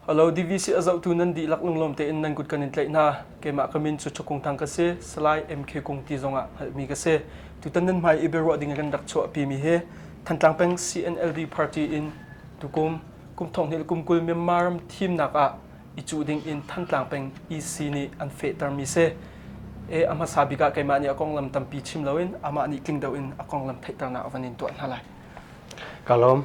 Halo DVC a zohtu nan dihlak lunglawm tein nan kut kan in tlaih hna. Keimah ka min cu Thakung Thang ka si. Salai MK Kung ti zong ah hngalhmi ka si. Tutan nan hmai i biaruah ding in kan rak chuahpimi hi Thantlang peng CNLD party in tukum kum thonghnih le kum kul Myanmar ram thimnak ah i cuh ding in Thantlang peng EC nih an fehtermi si. E, a hmasa bik ah keimah nih a konglam tampi chim loin amah nih tling deuh in a konglam theihternak a van in tuah hna lai. Ka lawm.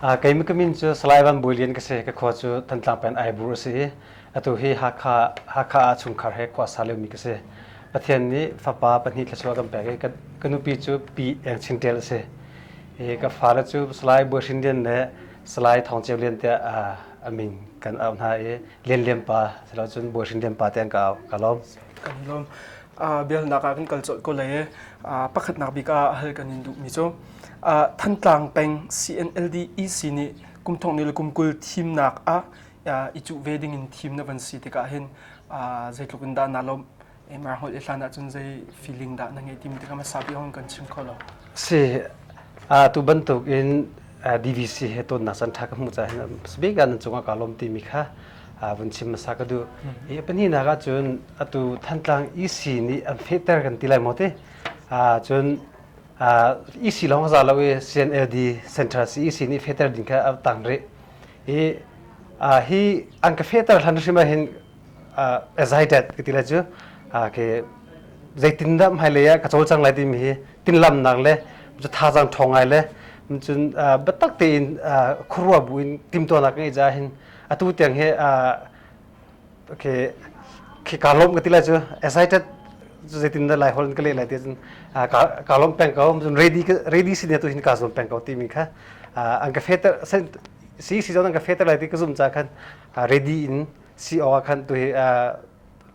Uh, keimi ka min cu Salai Van Bui Lian ka si. Ka khua cu Thantlang peng Aibur a si i atu hi Hakha Hakha ah chungkhar he khua sa liomi ka si. Pathian nih fapa pahnih thluachuah kan pek i ka, ka nupi cu Pi Eng Chin Ṭel a si. I ka fale cu Salai Buai Hrin Lian le Salai Thawng Ceu Lian tiah uh, amin kan au hna i lianlian pa silo cun bual hrinlian pa te an ka au ka lawm kan i lawm uh, bialnak ah kan kal colh ko lei uh, pakhatnak bik ah hal kan in duhmi cu uh, thantlang peng CNLD EC nih kum thong ni le kum kul thimnak ah uh, i cu ve ding in thim na van si tikah hin uh, zeitluk in dah na lawm MR holh i hlan ahcun zei feeling dah na ngeih timi tikah hmasa piak in kan chim kho lo. Si, tu bantuk in DVC he tonnak can ṭha ka hmuh caah speaker nan cungah ka lawm timi kha vun chim hmasa ka duh. I pahnihnak ahcun atu Thantlang EC nih an fehter kan ti lai maw ti. Cun EC lawng hza lo i CNLD Central CEC nih fehter ding kha a tang rih. I hi an ka fehter hlan hrim ahhin a zeidat ka ti le cu ke zeitindah hmailei ah ka cawl cang lai timi hi tinlamnak le cu thazang ṭhawng ngai le cun biatak tein khuaruah buin timtuahnak ka ngeih caah hin atu tiang hi khi kaa lawm ka ti le cu excited cu zeitindah lai holh in ka leh lai ti cun kaa lawm peng ko cun ready ready si ne tu hin kaa zuam peng ko timi kha an ka fehter si si zong an ka fehter lai ti ka zumh caah khan ready in si awk ah khan tu hi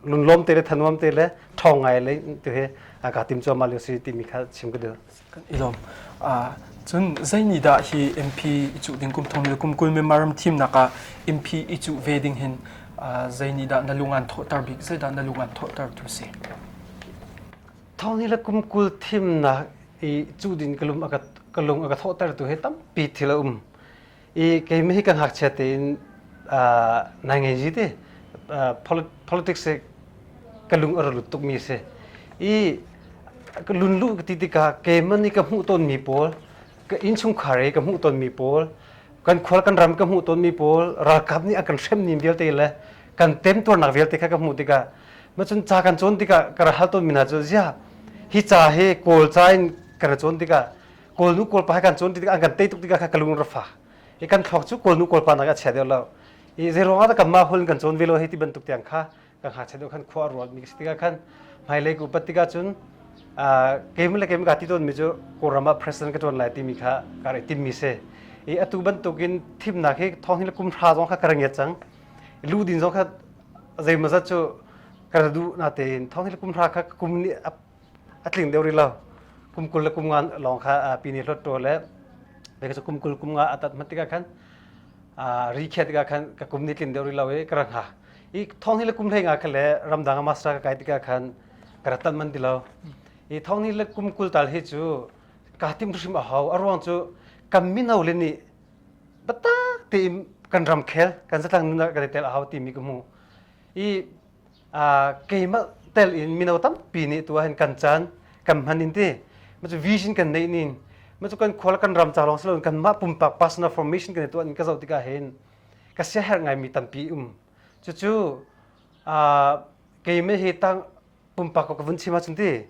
lunlawm te le thanuam te le ṭhawng ngai le tu hi ka tim cuahmah lio si timi kha chim ka duh. I lawm. Cun zeinihdah hi MP i cuh ding kum thong le kum kul membaram thim nakah MP i cuh ve ding hin zeinihdah na lungan thawhter bik zeidah na lungan thawhter tu si? Thong hi le kum kul thimnak i cuh ding ka lung a ka thawhter tu hi tampi thil a um. i keimah hi ka ngakchia tein nai ngei ji ti politics hi ka lung a ra lut tukmi a si i ka lun luh ka ti tikah keimah nih ka hmuh tawnmi pawl ka innchungkhar i ka hmuh tawnmi pawl kan khual kan ram ka hmuh tawnmi pawl ralkap nih a kan hrem ning vialte le kan temtuarnak vialte kha ka hmuh tikah ma cun ca kan cawn tikah ka ra hal tawnmi hna cu ziah hi ca hi kawl ca in ka ra cawn tikah kawl nu kawl pa he kan cun ti an kan tei tuk tikah kha ka lung rafa i kan thok cu kawl nu kawl pa nak a chia deuh lo i zeiruangah dah kan mah hul kan cawn ve lo hei ti bantuk tiang kha kan ha che deuh khan khua a rual mi si tikah khan hmailei ku pat tikah cun keim le keim ka ti ton mi cu kawlram ah president ka tuan lai ti mi kha ka rei tim mi se i atu bantukin thimnak hi thong hi le kum hra zong kha ka rangiat cang lu din zong kha zeimazat cu ka du na tein thong hi le kum hra kha kum ni a tling deuh rih lo kum kul le kum nga lawng kha pini hlawtṭaw le kei cu kum kul kum nga a tat hman tikah khan ri khiah tikah khan ka kum ni tlin deuh rih lo i ka ra hnga i thong hi le kum hlei nga kha le ramdang ah master ka kai tikah khan ka ra tanh man ti lo i thong hi le kum kul tal hi cu ka tim hrim a hau a ruang cu kan mino le nih bata tein kan ram khel kan zatlang nunah kan i tel a hau timi ka hmu i keimah tel in mino tampi nih tu ahhin kan caan kan hman in ti macu vision kan neih nin macu kan khual kan ram ca lawng si loin kanmah pumpak personal formation kan i tuah nin ka zoh tikah hin ka siaherh ngaimi tampi um cucu keimah hi tang pumpak ka vun chim ahcun ti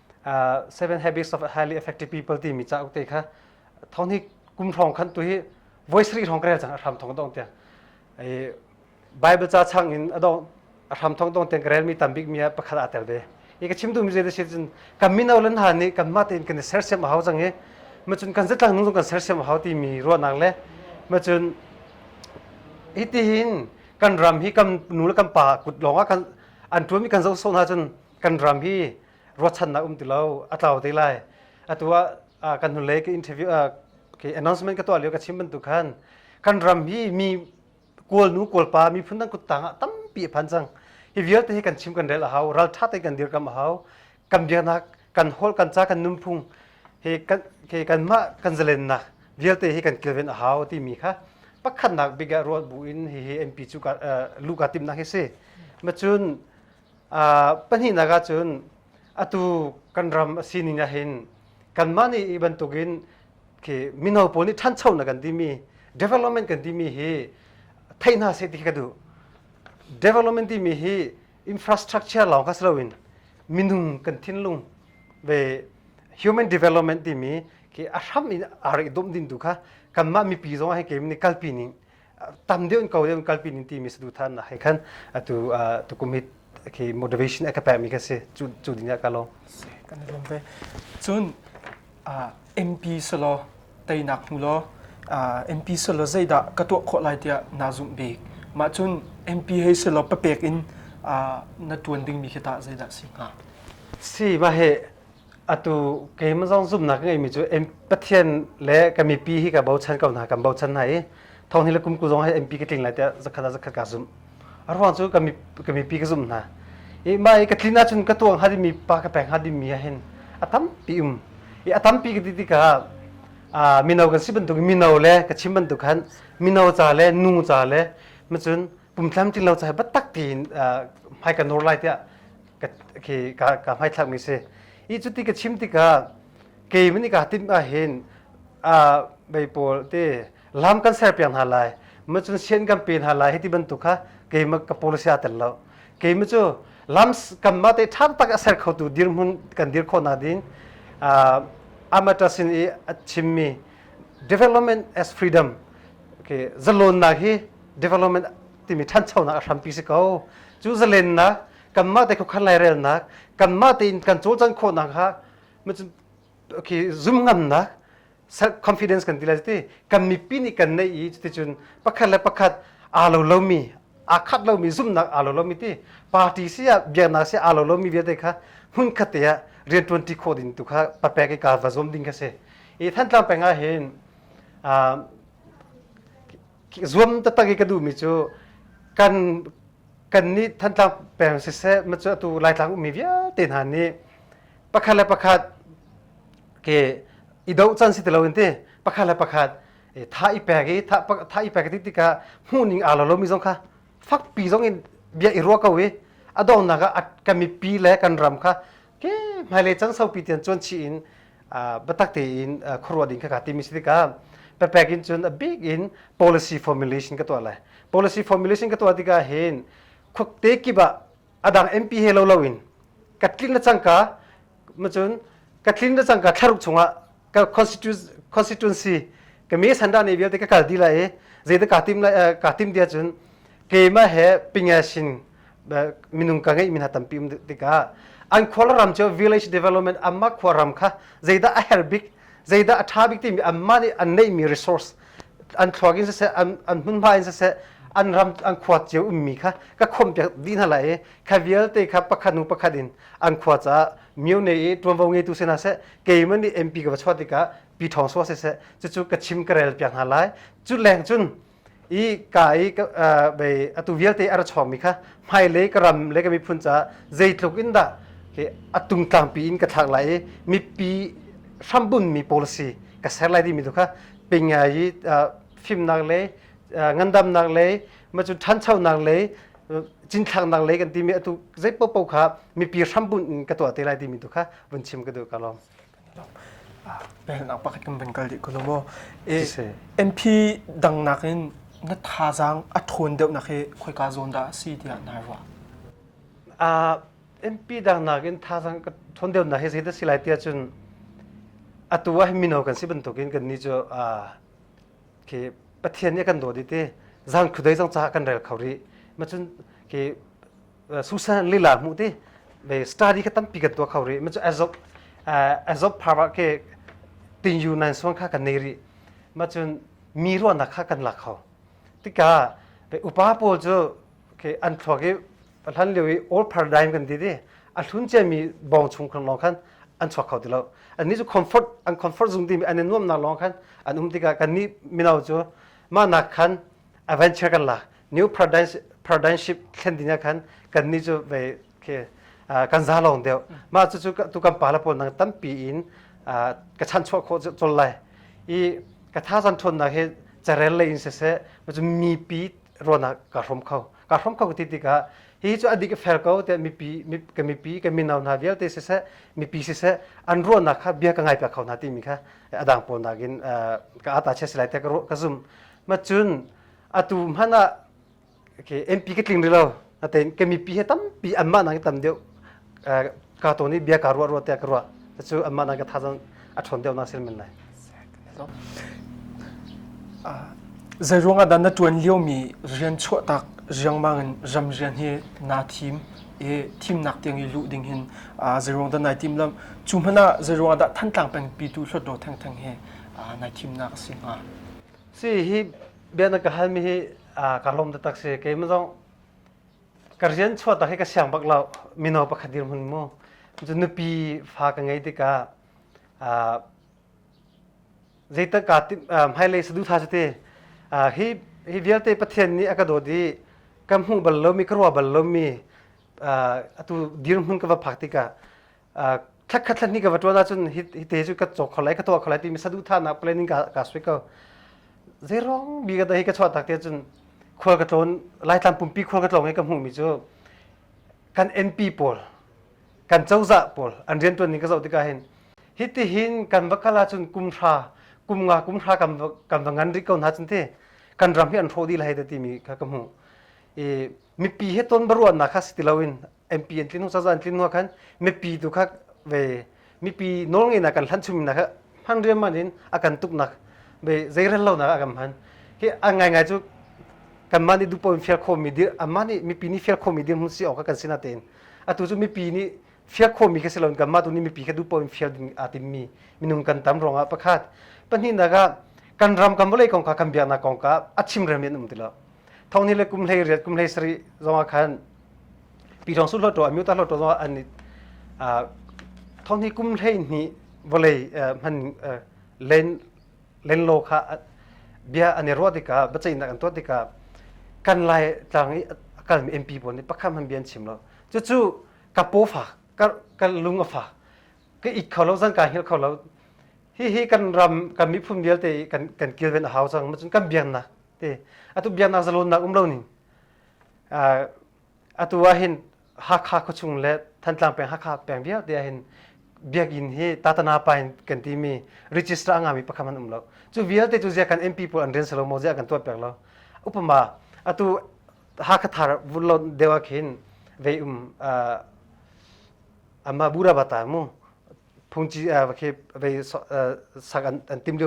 uh, seven habits of highly effective people timi cauk te kha thong hi kum hrawng khan tu hi voice ri hrawng krel chang a hram thong dong tia ai bible cha chang in adong a hram thong dong ten krel mi tambik mi pakhat atel ve i ka chim tu mi je de sin kan min aulan ha ni kan ma ten kan sersiam a hau chang hi ma chun kan zetlang nung kan sersiam a hau ti mi ro nak le ma chun hi ti hin kan ram hi kam nu le kam pa kut longa kan an tu mi kan zo so na chun kan ram hi ruachannak um ti lo a tlau te lai atu ah kan hnulei ka interview ke announcement ka tuah lio ka chim bantuk khan kan ram hi mi kual nu kual pa mi phun dang kuttang ah tampi phan cang hi vialte hi kan chim kan rel a hau ral tha te kan dir kam a hau kan biaknak kan hol kan ca kan nunphung he kan ke kan ma kan zalennak vialte hi kan kilven a hau ti mi kha pakhatnak bigah ruat bu in hi hi MP cu lu ka tim nak hi si ma cun Pahnihnak ahcun atu kan ram a sining ah hin kanmah nih hi bantukin khi mino pawl nih ṭhancho na kan timi development kan timi hi theih hna seh ti khi ka duh. Development timi hi infrastructure lawng kha si loin minung kan thinlung ve human development timi khi a hram in a rak i dawm din tu kha kanmah mipi zong ah hi keim nih kalpi ning tam deuh in kau deuh in kalpi ning timi saduhthah na hai khan atu tu kumit khi motivation a ka pe mi ka si cu cu din ya ka lo kan rom ve cun MP solo tainak mu lo MP solo zaida ka to kho lai tia na zum bik ma cun MP hei solo papek in na tuan ding mi khi ta zaida si hnga si ma he Atu keimah zong zumhnak ka ngeimi cu Pathian le ka mipi hi ka bochan ko hna, kan bochan hna i thawnghi le kumku zong hi MP ka tling lai tiah zakhat ah zakhat kaa zumh. A ruang cu ka mipi ka zumh hna. I mah i ka tlin ahcun ka tuang hnga dingmi pa ka peng hnga dingmi ah hin a tampi um. I a tampi ka ti tikah mino kan si bantuk mino le ka chim bantuk khan mino ca le nu ca le macun pumtlam tlinglo cai batak tiin hmai ka nur lai tiah ka hmai thlak mi si i cuti ka chim tikah kei min i ka tim ah hin bei pawl te lam kan ser piang hna lai ma cun sian kan pe hna lai hi ti bantuk kha keima ka policy a tel lo keima cu lam kam ma te ṭhang tak a ser khotu dirhmun kan dir khawh na din amaṭa sin i a chimmi development as freedom okay zalonnak hi development timi ṭhanchonak a hrampi si ko cu zalennak kanmah te khukkhan lairelnak kanmah tein kan cawlcang khawhnak kha okay zum ngamnak self confidence kan ti le ti kan mipi nih kan neih i cuticun pakhat le pakhat aa lo lomi aa khat lomi zumnak aa lo lomi ti party si ah biaknak si aa lo lomi vialte kha hmun khatte ah rian ṭuanṭi khawh ding tu kha papek i kaa va zuam ding kha si i Thantlang peng ah hin zuam taktak i ka duhmi cu kan kan nih Thantlang peng siseh ma cu atu Laitlang ummi vialte hna nih pakhat le pakhat ke i doh can si ti loin ti pakhat le pakhat tha i pek i tha i pek ti tikah hmuhning aa lo lomi zong kha fakpi zong in bia i ruah ko i a donghnak ah kan mipi le kan ram kha ke hmailei can saupi tian cuan chih in biatak tein khuaruah ding kha timi si tikah pepek in cun a bik in policy formulation ka tuah lai policy formulation ka tuah tikah hin khukte kibah adang MP he lo loin ka tlin na cangka macun ka tlin na cangka thlaruk chungah ka constituency ka me sanda ne vialte ka kal di lai e zeidah ka tim lai ka tim dia cun keimah he pingashin minung ka ngeih mi hna tampi um tikah an khua ram cu village development amma khua ram kha zeidah a her bik zeidah a tha bik timi amma nih an neih mi resource an thluak in siseh an an hmun hma in siseh an ram an khua cio um mi kha ka khom piak di hna lai i kha vialte kha pakhat nu pakhat in an khua ca mio ne i tuanvo ngeitu se na se keiman nih MP ka va chuah tikah pi thong suwa se se cucu ka chim ka rel piak hna lai cu leng cun i ka i bei atu vialte a ra chawngmi kha hmailei ka ram le ka miphun caah zeitluk in dah hi atung tlangpi in ka thlak lai i mipi hrambunmi policy ka ser lai dimi tu kha pingai i fimnak le ngandamnak le macun ṭhanchonak le cinthlaknak lei kan timi atu zei popo kha mipi hrambun in ka tuah te lai timi tu kha vun chim ka duh ka lawm Pennak pakhat kan van kal dih ko lo maw. E, MP dang nakin na thazaang a ṭhawn deuhnak hi khoika zawn dah a si tiah na ruah? Uh, MP dang nakin thazaang ka ṭhawn deuhnak hi zeidah si lai tiah cun atu ah mino kan si bantukin kan ni cu uh, khi Pathian nih kan dawt i ti zang khudei zang caah kan rel kho rih. Ma cun khi susa lila hmu ti be study ka tampi kan tua kho ri ma chu azob azob phara ke tin yu nan suang kha kan nei ri ma chun mi ruan na kha kan la kho tika be upa pawl chu ke an thua ke hlan liu i old paradigm kan di di a hlun che mi bong chung kan long khan an chuak kho ti lo an ni chu comfort an comfort zung di mi an nuam na long khan an um tika kan ni minau chu ma nak khan adventure kan la new paradigmship thlen ding khan kan ni cu vei khi kan za lawng deuh mah cucu tu kan pa la pawl nang tampi in ka chan chuah khawh col lai i ka tha san thon na he carel le in se se ma cu mipi rona ka hrom kho ka hrom kho ti tikah hi cu adik fel ko te mipi ka mipi ka minau na vialte se se mipi se se an ruana kha bia ka ngai pa kho na ti mi kha adang pol nakin ka ata che silai te ka ru ka zum ma cun atu hmanh ah okay, MP ka tling rih lo natein ka mipi he tampi anmah nang tam deuh ka to nih bia ka ruah ruah tiah ka ruah cu anmah nang ka thazang a ṭhawn deuh na sil men lai zei ruangah dan na tuan lio mi rian chuah tak riangmang in ram rian hi na thim i thimnak tiang i lu ding hin zei ruang da nai tim lam cu hmana zei ruang dah thantlang peng pi tu hlot do theng theng hi nai thimnak a si hnga Si hi bia na ka halmi hi ka lawm taktak si keimah zong ka rian chuah tak hi ka siang bak lo mino pakhat dir hun mu cu nupi fa ka ngei tikah zeitak ka hmailei sadu tha cu te hi hi vialte pathian nih a ka dawt i ka hmuh bal lomi ka ruah bal lomi atu dir hun ka va phak tikah thlakhat thlan hi ka va tuan ahcun hi te cu ka caw kho lai ka tuah kho lai timi saduhthahnak planning ka ka sui ko zeirong bi ka dai ka chuah tak te cun khual ka tlawn laitlang pumpi khual ka tlawng i ka hmuhmi cu kan MP pawl kan cozah pawl an rian tuan ning ka zoh tikah hin hi ti hin kan va kal ahcun kum hra kum nga kum hra kan va kan va ngan rih ko hna cun te kan ram hi an hrawh dih lai te timi kha ka hmuh i mipi he ton baruahnak kha si ti loin MP an tlin hnu sazan tlin hnu khan mipi tu kha ve mipi nawlngeih nak kan hlan chumi nak hman riam man in a kan tuk nak ve zeirel lo nak a kan hman hi a ngai ngai cu kan man i dupo in fial khomi dir aman ni mipi ni fial khomi dir mun si awk kan sina tein atu cu mipi ni fial khomi kha silon kan ma tu ni mipi kha dupo in fial ding a timmi minung kan tam rong a pakhat pahnih naga kan ram kan bolei kong ka kan biak na kong ka a chim rem in um tilo thong ni le kum hlei riat kum hlei sari zong ah khan pi thong su hloto a miu ta hloto zong ah an thong ni kum hlei ni vawlei hman len len lo kha bia an i ruah tikah bacainak an tuah tikah kan lai tlang i kal mi MP bon ni pakhat han bian chim lo cu cu ka po fa ka ka lung a fa ka it kho lo zan ka hil kho lo hi hi kan ram kan mi phun vialte kan kan kilven a hau cang ma cun kan biang na te atu biaknak zalonnak um lo ning atu ah hin hakha khuachung le thantlang peng hakha peng vialte ah hin biakinn hi tatana pa in kan ti mi register anga mi pakhat an um lo cu vialte cu zia kan MP pawl an rian salo mo zia kan tuat pek lo upama atu hakha thar vulon dewa khin vei um ama bura bata mu phungci vei sak an tim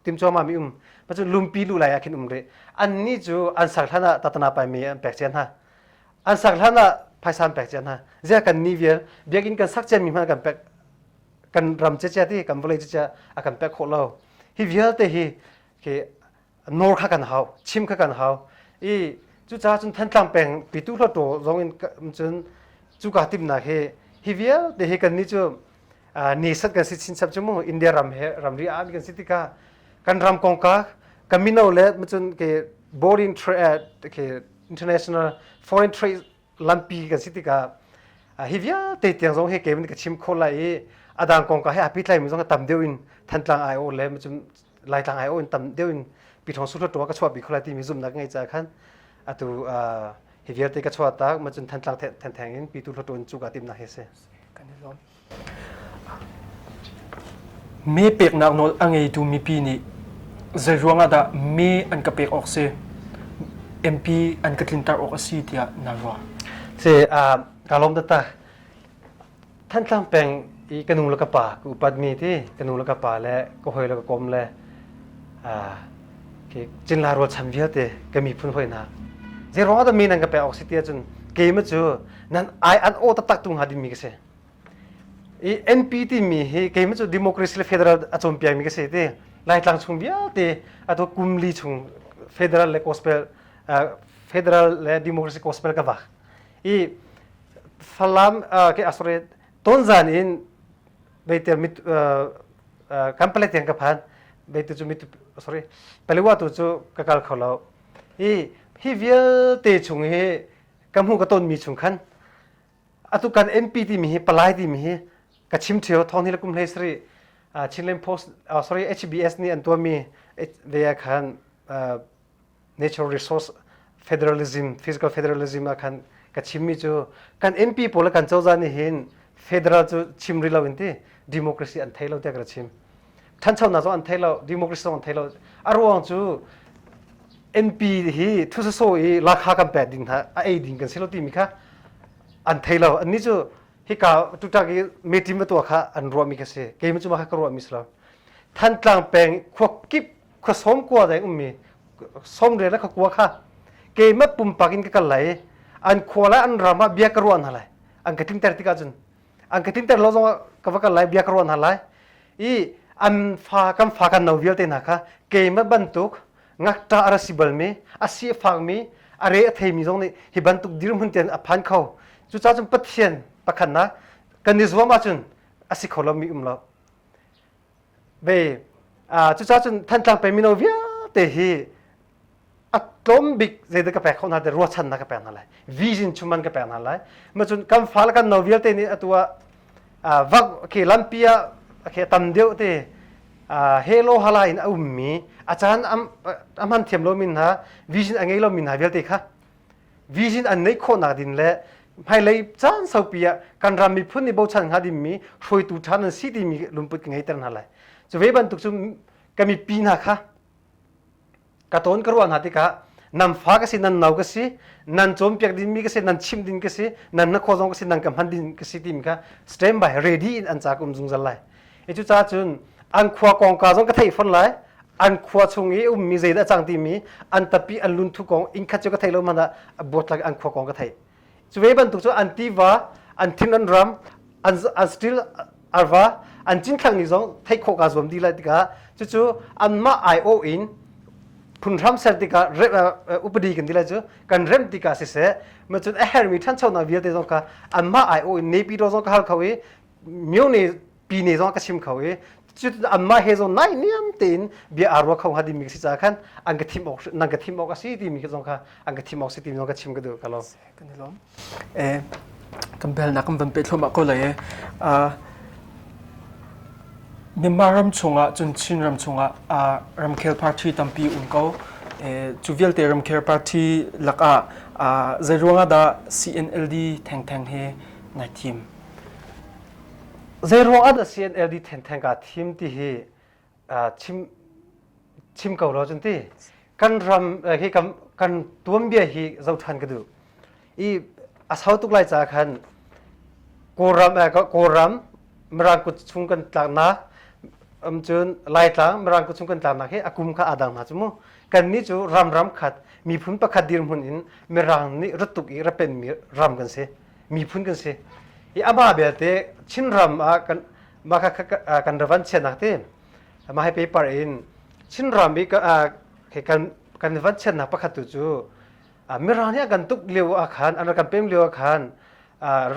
tim chuama mi um pa cu lumpi lu lai ah khin um re an ni cu an sang hlan ah tatana pai me an pek cia hna an sang hlan ah phaisan pek cia hna zia kan ni vial biakinn kan sak cia mi hma kan pek kan ram cia cia ti kan vawlei cia a kan pek khawh lo hi vialte hi ke nor kha kan hau chim kha kan hau i cu ca cun thantlang peng pitu hlo to zong in cun cuka timnak hi hi vialte hi kan ni cu Nation kan si chinchap cu mu India ram he ramri ah kan si tikah kan ram kongka kan mino le macun ke boarding trade ke international foreign trade lampi kan si tikah hi vialte tiang zong he kevin ka chim kho lai i adang kongka he api tlai mi zong tam deuh in thantlang ai o le macun laitlang ai in tam deuh in piṭhawng suhla ṭuang ka chuah bi khawla timi zumnak ngai ca khan atu hi vialte ka chuah tak ma cun thantlang thengtheng in pitu hla ṭuan cu ka timnak hi si kan i lawm me peknak nawl a ngeitu mipi nih zei ruangah dah me an ka pek awk si MP an ka tlintar awk a si tiah na ruah se ka lawm tata Thantlang peng i ka nu le ka pa ka upatmi ti ka nu le ka pa le ka hawi le ka kom le cinla rualchan vialte ka miphun hawinak zeiruang ah dah mi nan ka pek awk si ti ahcun keima cu nan ai an aw taktak tu hnga dingmi ka si i NP timi hi keima cu democracy le federal a cawn piakmi ka si ti laitlang chung vialte atu kumli chung federal le gospel federal le democracy gospel ka vak i Falam ke asore tonzan in beiter mit kan pale tiang ka phan beitu cu mitu sorry paliwa tu cu ka kal kho lo i hi vialte chung hi ka hmu ka ton mi chung khan atu kan MP timi hi palai timi hi ka chim theo thong hi la kum hlei sari Chinland Post sorry HBS nih an tuami ve khan natural resource federalism physical federalism ah khan ka chimmi cu kan MP pawl le kan cozah nih hin federal cu chim rih lo in ti democracy an thei lo tiah ka ra chim ṭhanchonak zong an thei lo democracy zong an thei lo a ruang cu MP hi thusasaw i lakha kan pek ding hna a ei ding kan si lo timi kha an thei lo anni cu hika tutak i metim a tuah kha an ruahmi ka si keimah cu mah kha ka ruahmi si lo Thantlang peng khua kip khua som kua dai ummi somre le khakua kha keimah pumpak in ka kal lai an khua lai an ram ah bia ka ruah hna lai an ka timter tik ahcun an ka timter lo zong ka va kal lai bia ka ruah hna lai i an fa kan fa kan no vialte hna kha keimah bantuk ngakṭa ara si balmi asi fakmi are a theimi zong nih hi bantuk dirhmun ten a phan kho cucaah cun pathian pakhatnak kan i zuam ahcun asi kho lomi um lo ve cucaah cun Thantlang peng mino vialte hi a tlawm bik zeidah ka pek khawh hna te ruachannak ka pek hna lai vision chuman ka pek hna lai macun kan fa le kan no vialte nih atu ah vak ke lampi ah ke tam deuh te helo hala in a ummi a caan a hman thiam lomi hna vision a ngei lomi hna vialte kha vision an neih khawhnak ding le hmailei caan saupi ah kan ram miphun nih bochan hnga dingmi hruaitu ṭha nan si timi lungput ka ngeiter hna lai cu ve bantuk cu ka mipi hna kha ka tawn ka ruah hna tikah nan fa ka si nan nau ka si nan cawnpiak dingmi ka si nan chim ding ka si nan na khuazong ka si nan ka hman ding ka si timi kha stand by ready in an cak um zungzal lai i cucaah cun an khua kongka zong ka theih fon lai an khua chung i ummi zeidah a cang timi an tapi an lunthu kong inn khat cu ka theih lo hmanh ah buatlak an khua kong ka theih cu ve bantuk cu an tiva an thin an ram an an still arva an cin thlang ni zong theih khawh ka zuam dih lai tikah cucu anmah ai o in phun hram ser tikah upadi kan dila cu kan rem tikah siseh ma cun a hermi thancho na vialte zong ka anmah ai o in nepi ro zong ka hal kho i myo ne pi ne zong ka sim kho i anmah he zong nai niam tein bia aa ruak kho hnga ti mi si caah khan an ka thim awk nan ka thim awk a si ti mi zong kha an ka thim awk si ti mi zong ka chim ka duh ka lom kan i lom eh kan bel na kan van pe thloma ko lai eh Myanmar ram chungah cun Chin ram chungah ramkhel party tampi um ko cu vialte ramkhel party lakah zeiruangah dah CNLD thengtheng he nai thim Zeiruangah dah CNLD thengtheng kaa thim ti hi chim chim ko lo cun ti kan ram hi kan kan tuanbia hi zoh ṭhan ka duh i a sau tuk lai caah khan Kawlram Kawlram Mirang kut chung kan tlaknak cun Laitlang Mirang kut chung kan tlaknak hi a kum kha aa dang hna cu mu kannih cu ram ram khat miphun pakhat dirhmun in Mirang nih rat tuk i rat penmi ram kan si miphun kan si i a ba belte Chinram ah kan mah kha kan ravan chianak ti mah he paper in Chinram i kan kan van chiannak pakhat tu cu mirang nih kan tuk lio ah khan an kan pem lio ah khan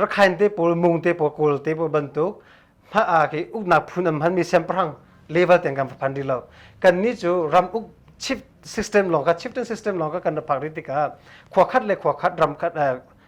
rakhain te pawl mung te pawl kawl te pawl bantuk ma ke uknak phun am han mi siangpahrang level ten kan phan rih lo kan ni cu ram uk chip system long ka chieftain system long ka kan phak ri tikah khua khat le khua khat ram khat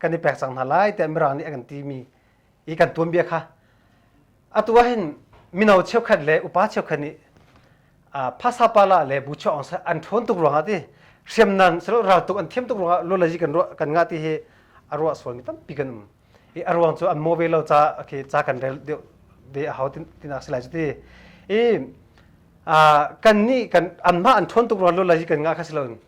kan i pek cang hna lai tiah mirang nih a kan timi i kan tuanbia kha atu ahhin mino cheukhat le upa cheukhat nih phasa pala le bu chuaong an ṭhawn tuk ruangah ti hriamnan silo raltuk an thiam tuk ruangah lolaji kan ruah kan ngah ti hi a ruah sualmi tampi kan um i a ruang cu an mo ve lo ca khi ca kan rel deuh de a hau tinak si lai cu ti i kan nih kan anmah an ṭhawn tuk ruangah lolaji kan ngah kha si loin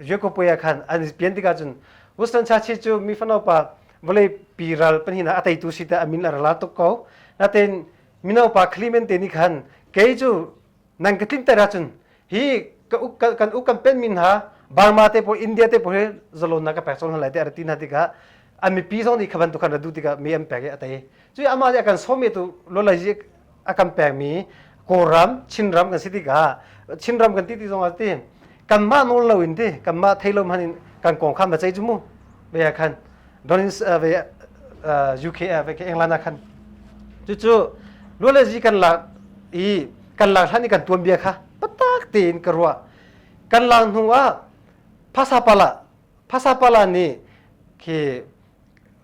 Jacob ah khan an pian tikah cun Winston Churchill cu mi fanopa vawlei pi ral pahnih a teitu si tah a min a rala tuk ko. Natein minopa Clemente nih khan kei cu nan ka tlinter ahcun hi ka uk kan uk kan penh mi hna Burma te pawl India te pawl hi zalon na ka pek cang hna lai tiah a rat ti hna tikah an mipi zong nih kha bantuk khan ra duh tikah mi an pek i a tei. Cuih amah nih a kan sawm i tu lawlai a kan pekmi Kawlram Chinram kan si tikah Chinram kan ti ti zong ah ti kanmah nawl lo in ti kanmah thei lo hman in kan kong kha ma cei cu mu ve khan donin ve UK ve ke England khan cucu luale zi kan lak i kan lak hlan i kan tuan bia kha patak tein ka ruah kan lak hnu ah phasapala phasapala nih khi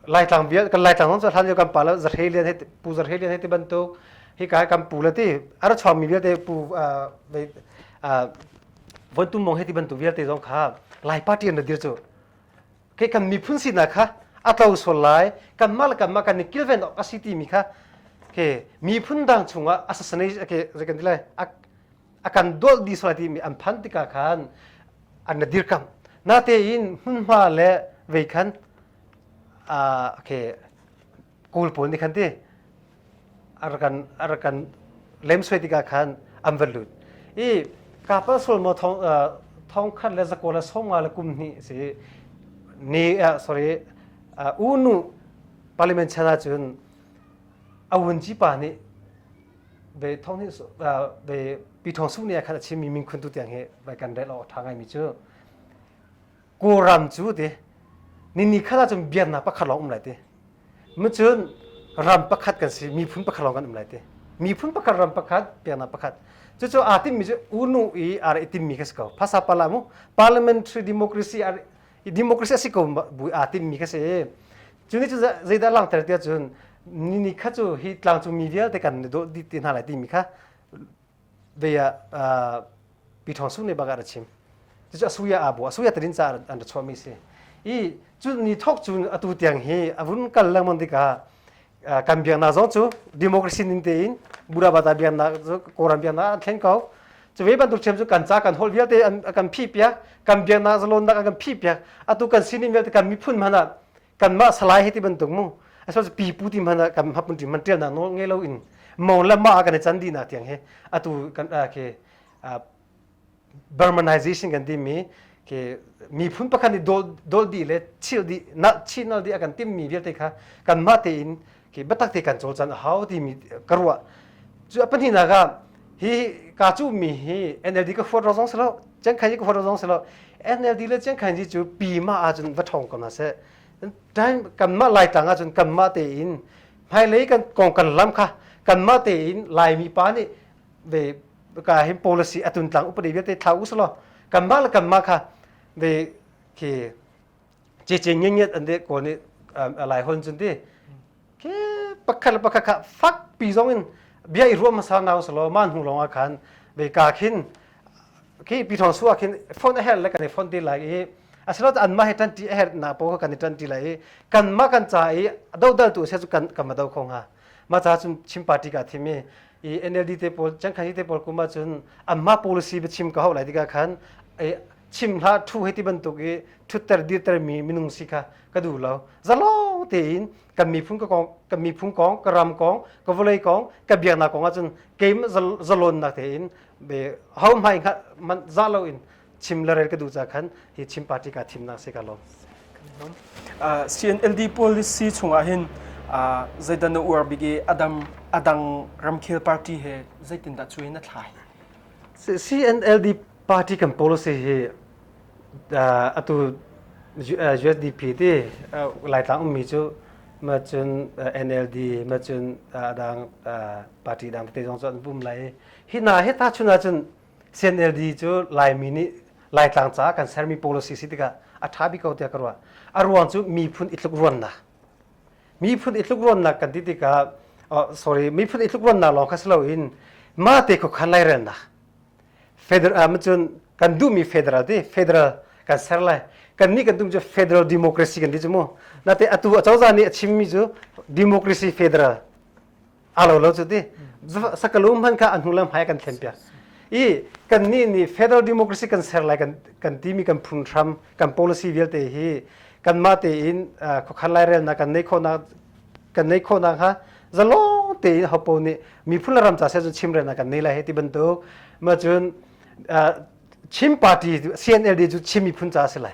laitlang vial kan laitlang zong hlan yo kan pa la zarhe lian he pu zarhe lian he ti bantuk hi ka kan pu la ti ar chom mi vialte pu von tum mong he ti bantuk vialte zong kha lai party an dir chu ke kan miphun si na kha atlo sol lai kan mal kan ma kan ni kilven ok asi ti mi kha ke miphun dang chunga asasanai ke zekan dilai akan dolh dih sual timi an phanh tikah khan an na dirkamh natein hmunhma le vei khan okay kul pawl nih khan ti arakan arakan lemsuai tikah khan an van lut i kapa sul mo thong thong khat le zakola songa le kum hnih si ni sorry unu parliament chana cun awun chi pa nih ve thong hi ve pi thong sung nia khat a chimmi min khun tu tiang hi vai kan rel awk tha ngaimi cu kawram cu ti ni ni khala cun biar na pakhat lawng um lai ti mu cun ram pakhat kan si miphun pakhat lawng kan um lai ti miphun pakhat ram pakhat biar na pakhat cucu aa timmi cu unu i ar itimmi ka si ko phasa pala mu parliamentary democracy ar i democracy a si ko bu aa timmi kha si cu ni cu zeidah langhter ti ahcun ni ni kha cu hi tlangcungmi vialte kan na dawh dih te hna lai timi kha bei ah pi thong sung ne bagar a chim cucu asuya abu asuya tarin ca an ra chuahmi si i cu ni thok cu atu tiang hi a vun kal lengmang tikah kan biaknak zong cu democracy ning tein burabata biaknak kawlram biaknak an thlen ko cu ve bantuk ṭhiam cu kan ca kan holh vialte an kan phih piak kan biaknak zalonnak an kan phih piak atu kan sining vialte kan miphun hmanh ah kanmah salai hei ti bantuk mu asal pipu ti hmanh ah kan hapun ṭim man ṭialnak nawl ngei lo in mong le ma kan i can dihnak tiang he atu kan ke Burmanization kan timi ke miphun pakhat nih dol dih le chil dih nal chin nal dih a kan timmi vialte kha kanmah tein ke biatak te kan cawlcan a hau timi ka ruah cu a pahnihnak ah hi ka cu mi hi NLD ka huat ro zong si lo Chiang Kai hi ka huat ro zong si lo NLD le Chiang Kai cu pima ahcun va ṭhawng ko hna seh time kanmah laitlang ahcun kanmah tein hmailei kan kong kan lam kha kanmah tein Laimi pa nih ve ka hi policy atun tlang upadi viate thau uslo kanmah le kanmah kha ve ki che che nge nge an de ko ni lai hon jun ti ke pakhat le pakhat kha fak pi zong in bia i ruam sa naw slo man hu longa khan ve ka khin ki pi thong suwa khin phone a her le kan phone ti lai i asilo an ma he tan ti her na po kan tan ti lai kan ma kan cha i do dal tu se chu kan kan ma do khong ha ma cha chim party ka thimi i NLD te pawl cangkhan te pawl kum ahcun anmah policy biachim ka hau lai tikah khan chim hla thu hei ti bantuk i thutter dirter mi minung si kha ka duh lo zalo tein kan miphun ka kong kan miphun kong ka ram kong ka vawlei kong ka biaknak kong ahcun keim zalonnak tein be hau mai man za lo in chim le rel ka duh ca khan hi Chin party ka thimnak se ka lawm CNLD policy chungah hin zeidan na uar bik i adam adang ramkhel party he zeitin dah chuin na thlai CNLD party kan policy hi atu USDP ti laitlang ummi cu ma cun NLD ma cun adang party dang te zong cu an pum lai hi na he ta chun ah cun CNLD cu Laimi nih Laitlang caah kan sermi policy si tikah a ṭha bik ko tiah ka ruah. A ruang cu miphun itlukruannak. Miphun itlukruannak kan ti tikah, oh, sorry, miphun itlukruannak lawng kha si loin mate khuakhan lairelnak. Federal, cun kan duhmi federal ti, federal kan ser lai. Kan nih kan tum cu federal democracy kan ti cu mu. Nate atu acozah nih a chimmi cu democracy federal alo lo chu ti sakalu man kha anu le hmai kan thlen pia i kan ni ni federal democracy kan ser lai kan kan ti mi kan phun hram kan policy vialte hi kan ma te in khokhar lai rel na kan nei kho na kan nei kho na ha zalo te in hopo ni mi phun ram cha se chu chim re na kan nei lai he ti bantuk ma chun chim party CNLD chu chimi phun cha se lai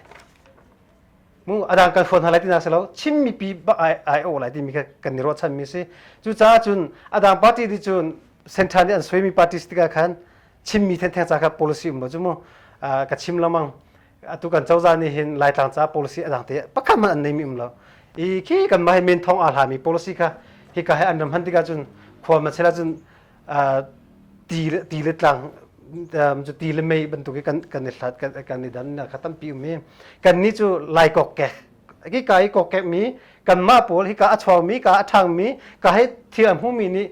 mu adang kan phone halai tina selo chin mi pi bak ai ai o lai ti mi kan ni ro chan mi si cu ca cun adang party di cun central ni an soi mi parties tiga khan chin mi then theng ca ka policy um ba chu mu ka chim lo mang atu kan chawza ni hin laitlang ca policy adang te pakhat man an nei mi um lo i khi kan mai main thong a la mi policy kha hi ka he an ram han tiga cun khwal ma chela cun ti le tlang ti le mei bantuk i kan kan i hlat kan i dan kha tampi um i kan ni cu lai kokek ki ka i kokek mi kanmah pawl hi ka a chuangmi ka a ṭhangmi ka hei thil a hmumi nih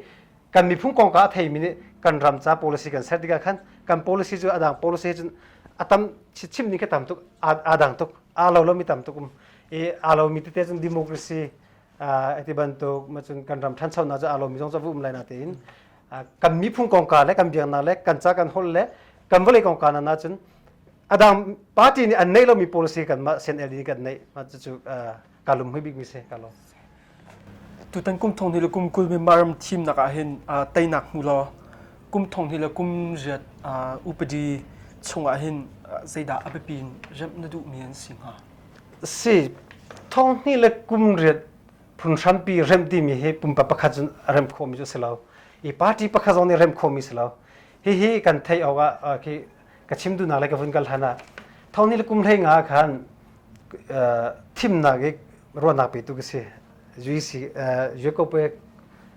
kan miphung kong ka a theimi nih kan ram ca policy kan ser tikah khan kan policy cu adang policy cun a tam chim ning kha tam tuk a dang tuk aa lo lomi tam tuk um i aa lomi tete cun democracy ati bantuk macun kan ram thanchonak cu alomi zong cu um lai na tein kan miphung kongka le kan biaknak le kan ca kan hol le kan vawlei kongka na cun adang party nih an neih lomi policy kan mah CNLD kan neih ma cu kalum hui bik mi se kalo tutan kum thong ni le kum kul mi maram team nak ah hin tainak mu lo kum thong ni le kum riat upadi chung ah hin zeidah abipi rem na duh mi an si hnga a si. Thonghnih le kum riat phunhrampi remh timi hi pumpa pakhat cun a remh khawhmi cu a si lo. I party pakhat zong nih remh khawhmi si lo. Hihi kan theih awkah uh, khi ka chim duhnak le ka vun kal hlan ah thonghnih le kum hlei nga ah khan uh, thimnak i ruahnak petu ka si. UEC, uh, UECO pe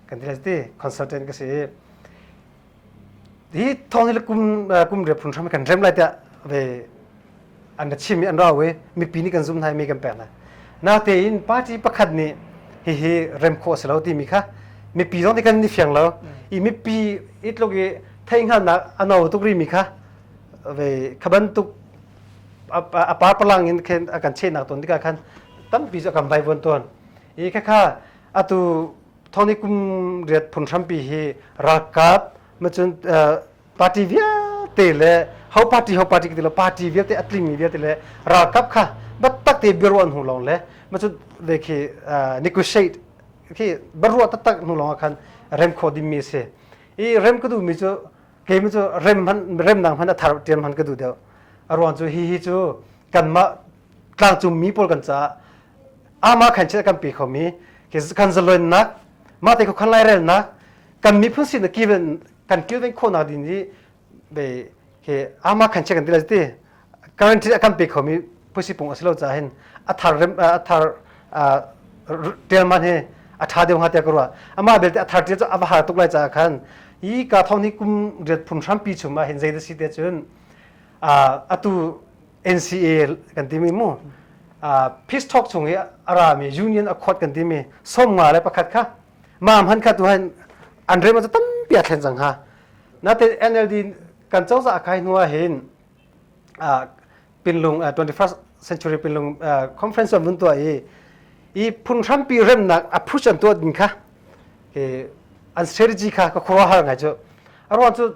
kan ti le ti consultant ka si i hi thawng hi le kum kum riat phun hram kan rem lai tiah ve an ra chim i an rau i mipi nih kan zum hna i mi kan pek hna natein party pakhat nih hihi rem khawh a si lo timi kha mipi zong kan ni fiang lo i mipi i tluk i theihhngalnak a no tuk rimi kha ve khaban tuk a par palang in khen a kan chehnak ton tikah khan tampi cu a kan vaivon tuan i khakha atu thawni kum riat phun hrampi hi ralkap macun party vialte le ho party ho party ti lo party vialte atlingmi vialte le ralkap kha battak te biaruah hnu lawng le macun de khi negotiate khi baruah taktak hnu lawng khan rem kho dingmi si i rem ka duhmi cu keimi cu rem hman rem nang hman athar tian hman ka duh deuh aruan cu hi hi cu kanmah tlangcungmi pawl kan caah amah khan chil kan pe kho mi kan zaloinnak mah te khan lairelnak kan miphun sin kilven kan kilven khawhnak din hi be ke ama khan che kan dila ti currently kan pe kho mi pusi pung asilo cha hin athar rem athar tel man he atha deu ha te karwa ama belte athar te ava har tuk lai cha khan i ka thong ni kum riat phun hram pi chuma hin zaida si te chun a atu NCA kan timi mu peace talk chung i a rami union accord kan timi somnga le pakhat kha mam han kha tu han an rem ta tampi a thlen cang ha natin NLD kan cozah a kai hnuah hin pinlung 21st century pinlung conference on mun tua i i phun hrampi remnak a push an tuat din kha an strategy kha ka khura har ngai chu arwan chu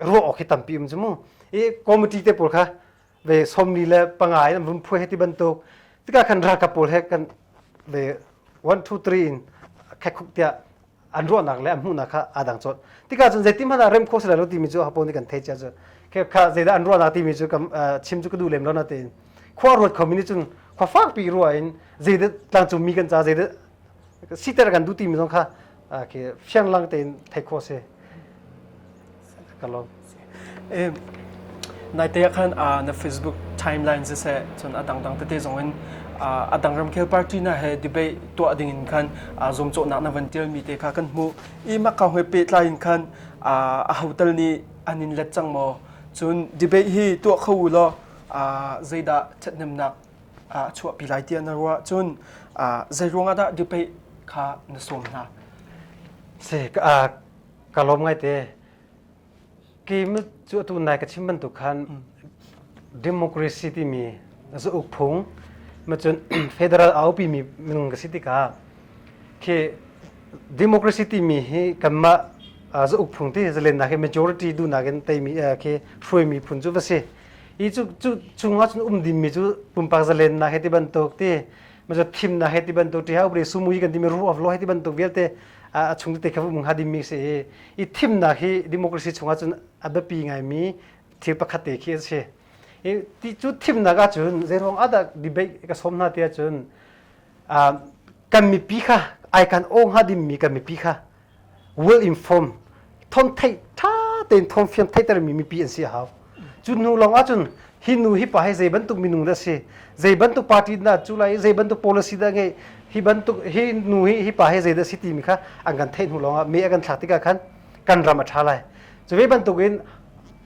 ruah awk hi tampi um cu mu i committee te pawl kha ve somni le panga in vun phu he ti bantuk tika kan ralkap pawl he kan ve one two three in khekhuk tiah an ruahnak le an hmuhnak kha aa dang chawt tika cun zeitin hmanh ah rem kho sila lo timi cu hapo nih kan thei chia cu khep kha zeidah an ruahnak timi cu kam chim cu ka duh lem lo na tein khua ruat khomi nih cun khua fakpi ruah in zeidah tlangcung mi kan ca zeidah siter kan duh timi zong kha khi fianglang tein thei khawh si ka lawm nai te khan na facebook timelines se chun adang dang tete zong in adang ramkhel party na he debate tuah ding in khan zom cho nak na van tial mi te kha kan mu i ma ka hoi pe tlai in khan a hotel ni anin let chang mo chun debate hi tuah kho lo zeida chatnem nak a chuahpi lai ti na ruah cun zeiruang ah dah debate kha na sawm hna? Se ka ka lawm ngaite. Kim cu atu nai ka chim bantuk khan democracy timi zauk phung macun federal aupi mi minung ka si tikah khi democracy timi hi kanmah zauk phung ti zalen na khi majority du nakin teimi khi hruai mi phun cu va si. i cu chungah cun um dingmi cu pumpak zalennak he ti bantuk ti ma cu thimnak he ti bantuk ti ha upre sumui kan timi rule of law he ti bantuk vialte a chung te khabu mung ha dimi si i i thimnak hi democracy chungah cun a biapi ngaimi thil pakhat te khi asi i ti cu thimnak ah cun zeirong adak debate ka som hna te cun kan mipi kha ai kan ong ha dimi kan mipi kha well informed thawng thei ṭha tein thawng fiam theitermi mipi an si a hau cu hnu lawng ahcun hi nu hi pa hi zei bantuk minung dah si zei bantuk party dah cu lai zei bantuk policy dah ngeih hi bantuk hi nu hi hi pa hi zei dah si timi kha an kan theih hnu lawngah me a kan thlak tikah khan kan ram a ṭha lai cu ve bantukin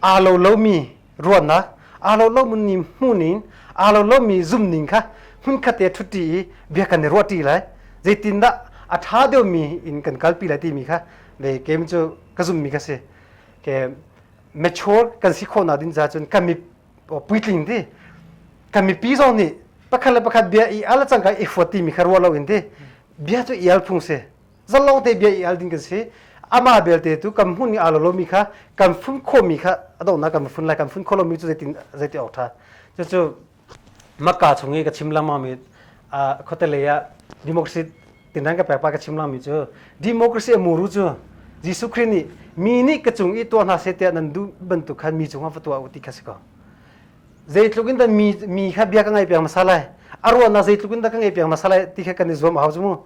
aa lo lomi ruanna aa lo lo mun ni mu nin aa lo lo mi zum ning kha hmun khat te thutti i bia kan ni ruah ti lai zeitin dah a tha deu mi in kan kal pi lai ti mi kha le kem chu ka zum mi ka si ke mature kan si kho na din za chun ka mi puitling ti ka mi pi zong ni pakhat le pakhat bia i ala chang ka i fuati mi kha ruwa lo in ti bia chu ial phung se zalong te bia i al ding kan si ama belte tu kan hmun i alo lomi kha kan fun khomi kha adona kan fun lai kan fun kho lomi cu zeitin zeiti ok tha cucu makka chung i ka chim langmami khotelei ah democracy tinang ka pekpa ka chim langmi cu democracy amuru cu Jesuh Christ nih mi nih ka cung i tuah hna se tiah nan duh bantuk khan mi cungah fatua u ti kha si ko zeitluk in da mi mi kha bia ka ngai piang masa lai a ruahnak zeitluk in da ka ngai piang masa lai ti kha kan i zuam a hau cu mu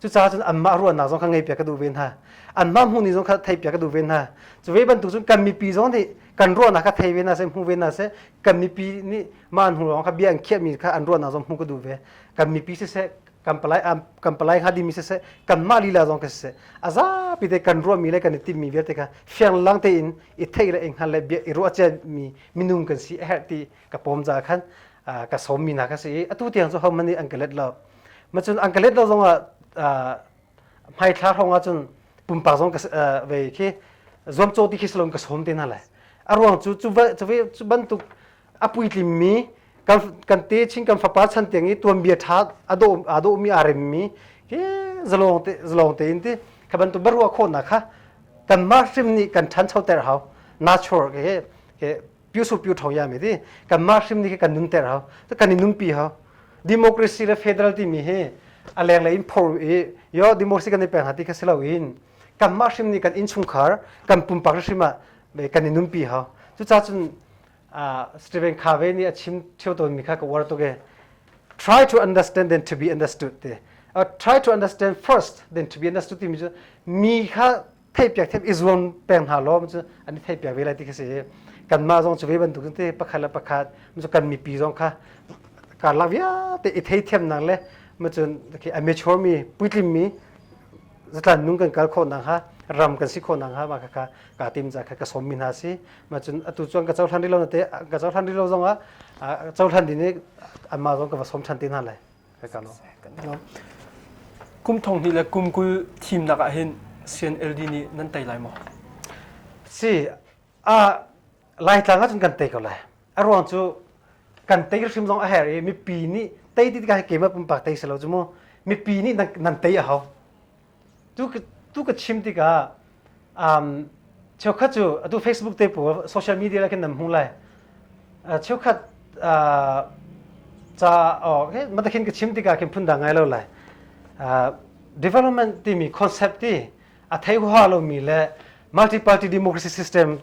cucaah cun anmah ruahnak zong kha ngaihpiak ka duh ve hna anmah hmuh ni zong kha theihpiak ka duh ve hna cu ve bantuk cun kan mipi zong nih kan ruahnak kha thei ve hna seh hmu ve hna seh kan mipi nih mah an hnu lawng kha bia an khiahmi kha an ruahnak zong hmu ka duh ve kan mipi siseh kan palai kan palai kha dimi siseh kan mah lila zong ka siseh a zapi te kan ruahmi le kan i timmi vialte kha fianglang tein i thei le i hngal le bia i ruahciami minung kan si a herh ti ka pawm za khan ka sawmmi hna ka si i atu tiang cu homan nih an ka let lo macun an ka let lo zongah hmaithla hrawngah cun pumpak zong ka ve khi zuamcaw ti khi salon ka sawm te na le a ruang cu cu bantuk a puitlim mi kan te chin kan fapa chan tiang i tuan bia tha a do mi a rem mi hi zalong te zalong te in ti kha bantuk barua kho na kha kan ma hrim ni kan than cho ter hau natural ke ke pyu su pyu tho ya mi di kan mah hrim ni kan nun ter hao kan i num pi hao democracy le federal timi hi a leng le in phor i yo democracy kan i peng hati kha silo in kan mah hrim ni kan in chungkhar kan pumpak hrim ah kan i num pi hao cu cha cun Stephen Covey nih a chim thio ton mi kha ka war to ge try to understand then to be understood te uh, try to understand first then to be understood timi cu mi kha theihpiak thiam i zuam peng hna law cu an i theihpiak ve lai ti khi si kanmah zong cu ve bantuk te pakhat le pakhat cu kan mipi zong kha karlak vialte i theithiamnak le macun amateur mi puitlim mi zatlan nung kan kal khawh nang ha ram kan si khawh nang ha ma kha ka ka tim za kha ka som min ha si macun atu chuan ka chohlan rilo na te ka chohlan rilo zong a chohlan din ni anma zong ka va som than tin ha lai Kum thong hnih le kum kul thimnak ah hin CNLD nih nan tei lai maw? Si, uh, Laitlang ahcun kan tei ko lai. A ruang cu kan tei hrim zong a her i mipi nih tei ti tikah keimah pumpak tei selo cu mu mipi nih nan, nan tei a hau. tu ka chim tikah um, cheukhat cu atu Facebook te pawl social media la khin nan hmu lai cheukhat ca mata khin ka chim tikah khin phundang ngai lo lai development timi concept ti a thei hua lo mi le multi party democracy system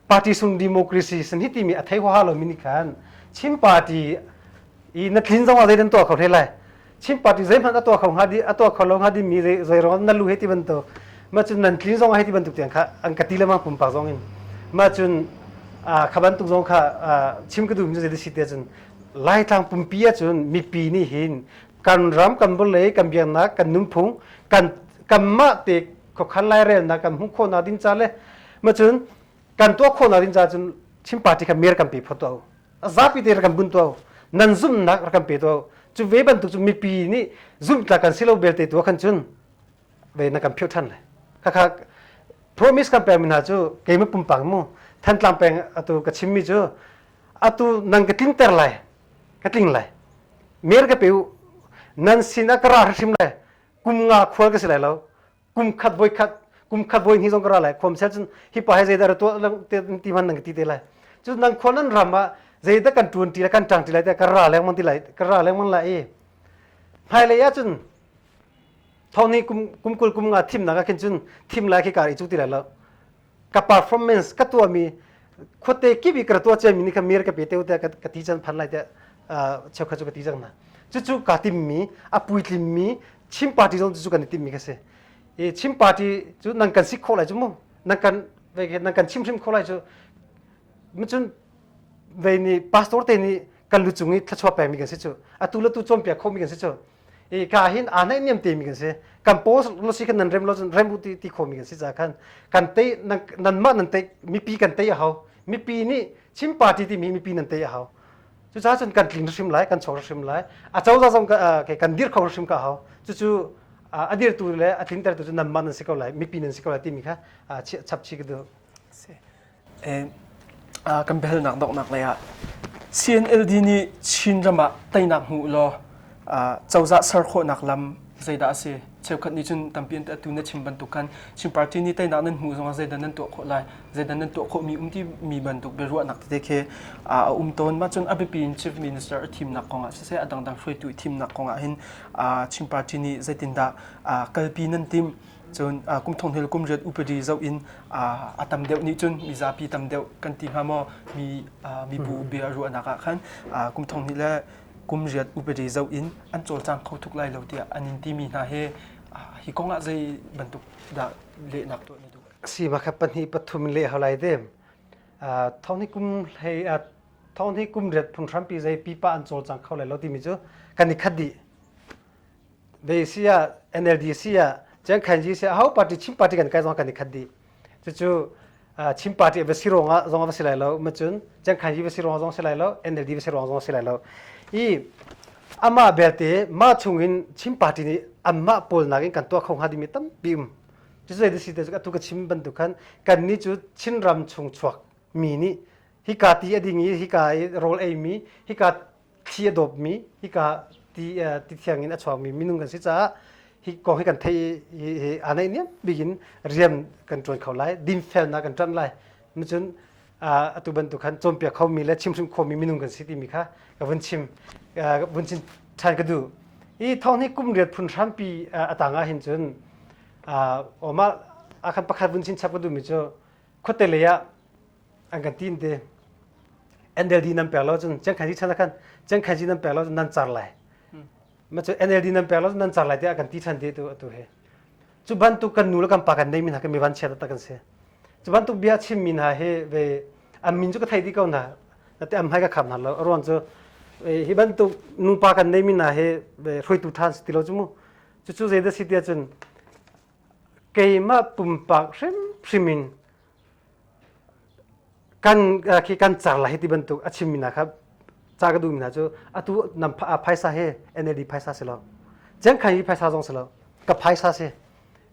party sung democracy sin hi timi a thei hua lo mi ni khan chim party i na tlin zong a zeidan to ka hle lai Chin party zeihmanh a tuah kho hnga di a tuah kho lo hnga di mi zei rong na lu he ti bantuk ma cun nan clean zong a he ti bantuk tiang kha an ka ti le ma pumpak zong in ma cun kha bantuk zong kha chim ka duhmi cu zei si te cun laitlang pumpi ah cun mipi nih hin kan ram kan bolei kan biaknak kan nunphung kan kanmah te khokhan lai relnak kan hmuh khawhnak ding ca le ma cun kan tuah khawhnak ding ca cun Chin party kha mer kan pe phot tuah zapi te rak kan bunh tuah nan zumhnak rak kan pe tuah cu ve bantuk cu mipi nih zumhtlak kan si lo belte tu khan cun ve na kan philh than lai khakha promise kan pekmi hna cu keima pumpang mu thantlang peng atu ka chimmi cu atu nan ka tling ter lai ka tling lai mer ka pe nan sin a ka ra hrim lai kum nga khual ka si lai lo kum khat voi khat kum khat voi ni zong ka ra lai khom sel cun hi pa he zeidah ra tuah ti man nang ti te lai cun nang khon an ram ah zeidah kan tuan ti lai kan tang ti lai te ka ra leng man ti lai ka ra leng man lai i hai lei ah cun thawni kum kum kul kum nga thim nak ah khin cun thim lai khi ka i cu ti lai lo ka performance ka tuami khuate kip i ka tua ciami ni ka mir ka pe te te ka ti chan phan lai te cheu kha chu ka ti jang na cucu ka timmi a puitlimmi Chin party zong cu kan i timmi ka si i Chin party cu nang kan si kho lai cu mu nang kan nang kan chim hrim kho lai cu mucun vei ni pastor te ni kan lucung i thlachuah pemi kan si cu atu le tu cawm pia khomi kan si cu i ka hin aa naih niam te mi kan si kan post lo si kan nan rem lo cun rem ru ti ti kho mi kan si ca khan kan tei nan mah nan tei mipi kan tei a hau mipi nih chin party ti mi mipi nan tei a hau cucaah cun kan tling hrim lai kan cho hrim lai a coza zong kan dir kho hrim ka hau cucu a dirtu le a tlintertu cu nan mah nan si ko lai mipi nan si ko lai timi kha chap chi ka du kan biahalnak donghnak lei ah CNLD nih Chinram ah teinak hmu law cozah ser khawhnak lam zeidah a si cheukhat nih cun tampi an atu na chim bantuk khan Chin party nih teinak nan hmuh zongah zeidan nan tuah khawh lai zeidan nan tuah khawhmi um timi bantuk biaruahnak tete khi a um tawn ma cun a biapi in chief minister a thimnak kongah siseh a dangdang hruaitu i thimnak kongah hin Chin party nih zeitindah kalpi nan tim cun kum thong hel kum riat upadi zoh in a tam deuh nih cun mi zapi tam deuh kan ti hnga maw mi mibu bia ruahnak ah khan kum thong hnih le kum riat upadi zoh in an cawlcang kho tuk lai lo tiah an in timi hna he hi kong ah zei bantuk dah lehnak tuah na duh si ma kha pahnih pathum le holai dem thong hnih kum hlei thong hnih kum riat phun hrampi zei pipa an cawlcang kho lai lo timi cu kan i khadi Beisi ah NLDC ah Jiang Khanji si hau party Chin party kan kai zong kan i khat dih cucu Chin party va si ruang ah zong va si lai lo macun Jiang Khanji va si ruang zong si lai lo NLD va si ruang zong si lai lo i amah belte mah chung in Chin party nih anmah pawl nak in kan tuah kho hnga dimi tampi um cu zei si te atu ka chim bantuk khan kan ni cu Chin ram chung chuak mi nih hika ti a ding i hika i rawl ei mi hika thi a dawpmi hika ti ti thiang in a chuangmi minung kan si caah hi kong hi kan theih i hi aa naih niam bik rian kan ṭuan kho lai dinfelnak kan ṭanh lai cun atu bantuk khan cawnpiak khomi le chimhrim khomi minung kan si timi kha ka vun chim vun chin ṭhan ka duh i thawng hi kum riat phun hrampi a tang ah hin cun oma akhan pakhat vun chin chap ka duhmi cu khuate lei ah an kan tim te NLD nan pek lo cun Chiang Kai zi chan ah khan Chiang Kai zi nan pek lo cun nan car lai ma cu NLD nan pek lo cun nan car lai tiah kan ti than te tu atu hi cu bantuk kan nu le kan pa kan nei min ha kan mi van chia taktak kan si cu bantuk bia chim min ha hi ve am min cu ka thei di ko na te am hai ka kham har lo aruang cu hi bantuk nupa kan nei min ha hi hruitu than si ti lo cu mu cu cu zeidah si tia cun keimah pumpak hrim hrimin kan khi kan car la hi ti bantuk a chimmi hna kha ca ka duhmi hna cu atu nam phaisa hi NLD phaisa si lo Cengkhan hi phaisa zong si lo ka phaisa si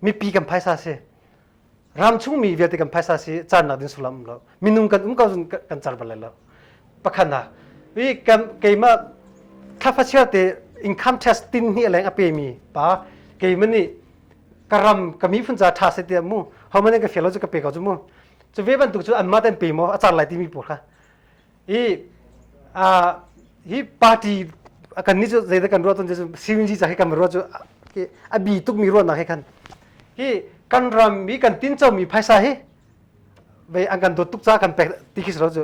mipi kan phaisa si ram chungmi vialte kan phaisa si cannak ding sullam lo minung kan um ko zun kan car bal lai lo pakhat nak wi keimah thlafasial te income tax tin ni leng a pe mi pa keimah ni karam kami funza tha se tiah mu homane ka fialo chu ka pe ko chu mu chu ve bantuk chu anma ten pe mo achar lai ti mi por kha i a hi party kan ni chu zeida kan ro ton chu CNG cha hi kan ro chu abi tuk mi ro na he khan hi kan ram mi kan tin chau mi phaisa hi vei an kan dawt tuk ca kan pek ti khi salo cu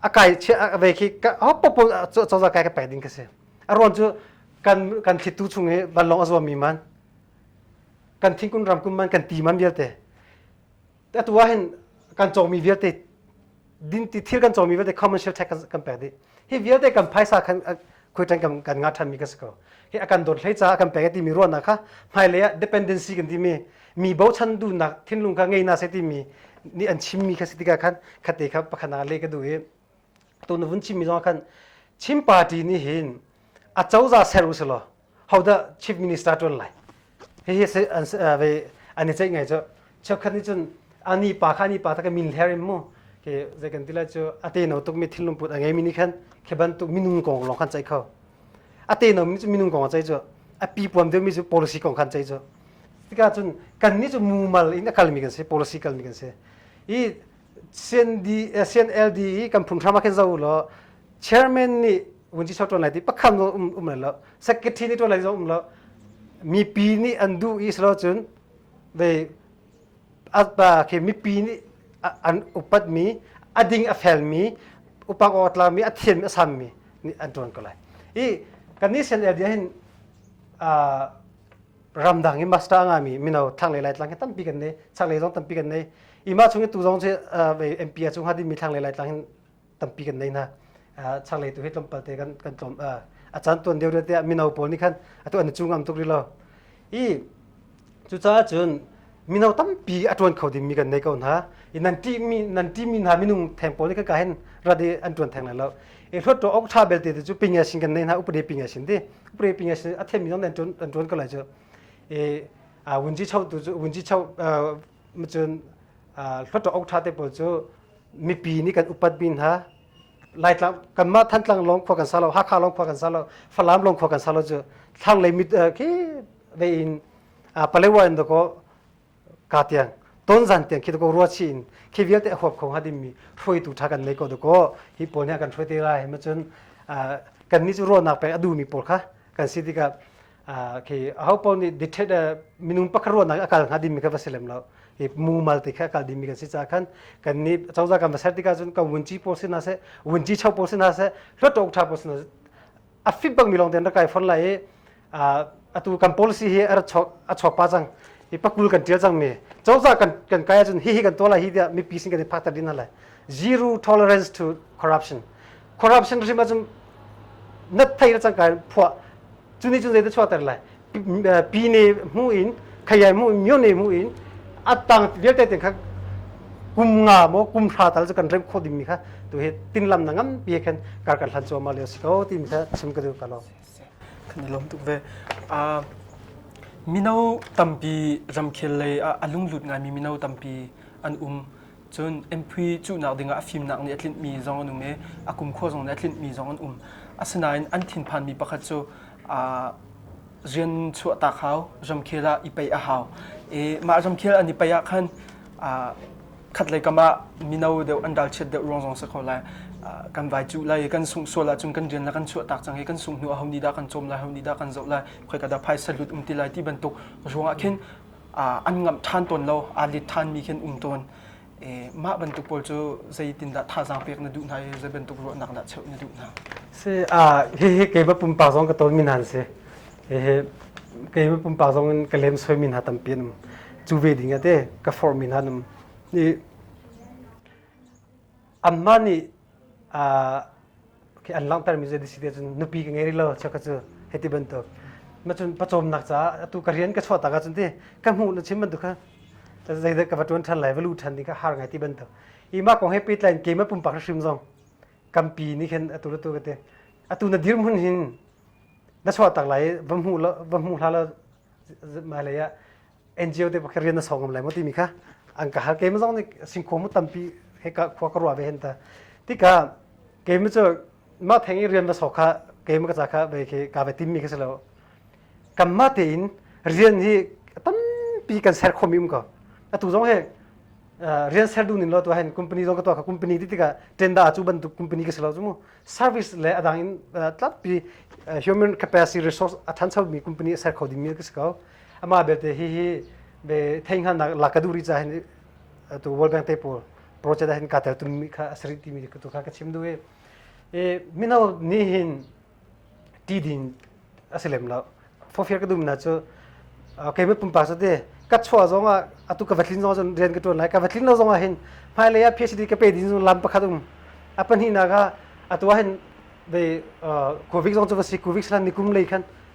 a kai chia vei khi ho popo cozah kai ka pek ding ka si a ruan cu kan kan thittu chung i vanlong a zuam mi man kan thingkun ram kun man kan ti man vialte atu ah hin kan cawmi vialte din ti thil kan cawmi vialte commercial tax kan pek dih hi vialte kan phaisa khan khuitan kan kan nga than mi ka si ko hi akan dot hlei ca akan pek ti mi ruahnak kha hmailei ah dependency kan ti mi mi bochan du nak thinlung ka ngei na se ti mi ni an chim mi kha si tika khan khate kha pakhana le ka du hi to na vun chim mi zong khan chim party ni hin a choza ser usilo how the chief minister tuan lai hi hi ve an i ceih ngai cu cheukhat nih cun ani pa kha ani pa ta ka min hler im mu ke zei kan tila cu ate no tuk mi thil lungput a ngei mi ni khan ke ban tuk minung kong long khan chai kho ate no mi cu minung kong a chai cu a pi puam deu mi cu policy kong khan chai cu tika cun kan ni cu mumal in akal mi kan si policy kal mi kan si i CNLD i kan phunghram ah khin zo law chairman nih vunci chok tuan lai ti pakham um um lai lo secretary nih tuan lai zong um lo mipi nih an duh i silo cun they atpa khi mipi nih an upat mi a ding a fel mi upak awtla mi a thiam a sam mi nih an tuan ko lai i kan ni CNLD hin ramdang i master nga mi mino thlanglei laitlang hi tampi kan nei changlei zong tampi kan nei ima chung i tu zong cu MP cung hadin mi thlanglei laitlang hin tampi kan nei na changlei tu hi tlawmpal te kan kan tlawm a chan tuan deu te mino pawl nih khan atu an chung am tuk ri lo i cucaah cun mino tampi a tuan kho dingmi kan nei ko hna i nan ṭihmi nan ṭihmi hna minung theng pawl nih khaka hen rat i an tuan theng lai lo e hlot to ok tha belte te chu pinga sin kan nei hna upade pinga sin di upade pinga sin a them mi nan tuan an tuan ko lai chu e a wunji chau tu chu wunji chau ma chun hlot to ok tha te pawl chu mipi nih kan upat bin hna laitlang kanmah thantlang long khua kan sa lo hakha long khua kan sa lo falam long khua kan sa lo chu thlanglei mit khi ve in palewa in dako ka tiang ton zan tiang khi dako rua chi in khi vialte huap khong ha dimmi hruaitu tha kan nei ko dako hi pawl nih kan hruai te ra hem cun kan ni cu ruahnak pek a du mi pawl kha kan si tikah khi a ho pawl nih dithet minung pakar ruahnak a kal hnga dimmi ka va si lem lo i mumal ti kha kal dimi kan si ca khan kan ni chawza kan va ser tika cun kan wunci pawl si na se wunci chau pawl si na se hluat tok tha pawl si na se a fit bangmi lawng ten rak kai fon lai i atu kan policy hi a chawk pa cang i pakul kan tial cangmi cozah kan kan kai ahcun hihi kan tuah lai hi tiah mipi sin kan i phakter dih hna lai zero tolerance to corruption corruption hrim ahcun nat thei na cang kai phuah cuni cun zeidah chuahter lai pi ne hmu in khayai mu in myo ne mu in atang vialte ten kha kum nga mo kum hra tal kan rem kho ding mi kha tu he tin lam na ngam pi khan kar kan hlan choma le so ti mi kha chim ka du ka lo kan lom tuk ve a mino tampi ramkhel lei a lunglut ngai mi mino tampi an um Cun MP cuhnak dingah a fimnak nih a tlinhmi zong an um i a kumkhua zong nih a tlinhmi zong an um. Asinain an thinphanmi pakhat cu aa rian chuahtak hau, ramkhel ah i paih a hau. I mah ramkhel an i paih ah khan aa khatlei kam ah mino deuh an ralchiat deuh ruang zong si ko lai. Aa, kan vai cuh lai i kan sungh sual ahcun kan rian le kan chuahtak cang i kan sungh hnu aho nih dah kan cawm lai, aho nih dah kan zoh lai, khoi ka dah phaisa lut um ti lai ti bantuk ruangah khin an ngamh ṭhan tawn lo, aa let ṭhanmi khi an um tawn. Mah bantuk pawl cu zeitindah thazaang pek na duh hna i zei bantuk ruahnak dah cheuh na duh hna? Si, hihi keimah pumpak zong ka tawnmi hna an si. Hihi keimah pumpak zong in ka lemsoimi hna tampi an um. Cu ve dingah te ka forhmi hna an um. Anmah nih an langhtermi zei si cun nupi ka ngei rih lo cheukhat cu hiti bantuk. Macun pawcawmnak caah atu ka rian ka chuahtak ahcun ti ka hmuh na chim bantuk kha zeidah ka va ṭuan ṭhan lai va lu ṭhan ding kha har ngai ti bantuk. I mah kong he pehtlai in keimah pumpak hrim zong kampi nih khin atu le tu ka ti atu na dirhmun hin na chuahtak lai va hmuh la va hmuh hlah law hmailei ah NGO te pakhat rian na sawngam lai maw timi kha an ka hal keim zong nih singkho mu tampi he ka khua ka ruwa ve hen ta tika keim cu ma theng i rian va so kha keim ka ca kha ve khi ka ve tim mi kha si lo kan ma te in rian hi tampi kan ser khom im ko atu zong he rian ser du nin lo tu hen company zong ka to ka company ti tika tenda chu ban tu company ka selo mu service le adang in tlapi human capacity resource athan sau mi company ser kho ding mi ka si ko Amah belte hihi ve theinghana la ka duh ri ca hin tu World Bank te pawl project ah hin ka tel tumi kha a sarih timi tu kha ka chim duh i e mino nih hin ti din a si lem lo fofiar ka dum na cu kei mit pumpak cu te ka chuah zong ah atu ka va tlin zong cun rian ka tuan lai ka va tlin lo zong ah hin hmailei ah PhD ka pe din zung lam pakhat um a pahnih na kha atu ah hin ve covid zong cu va si covid slan nikum lei khan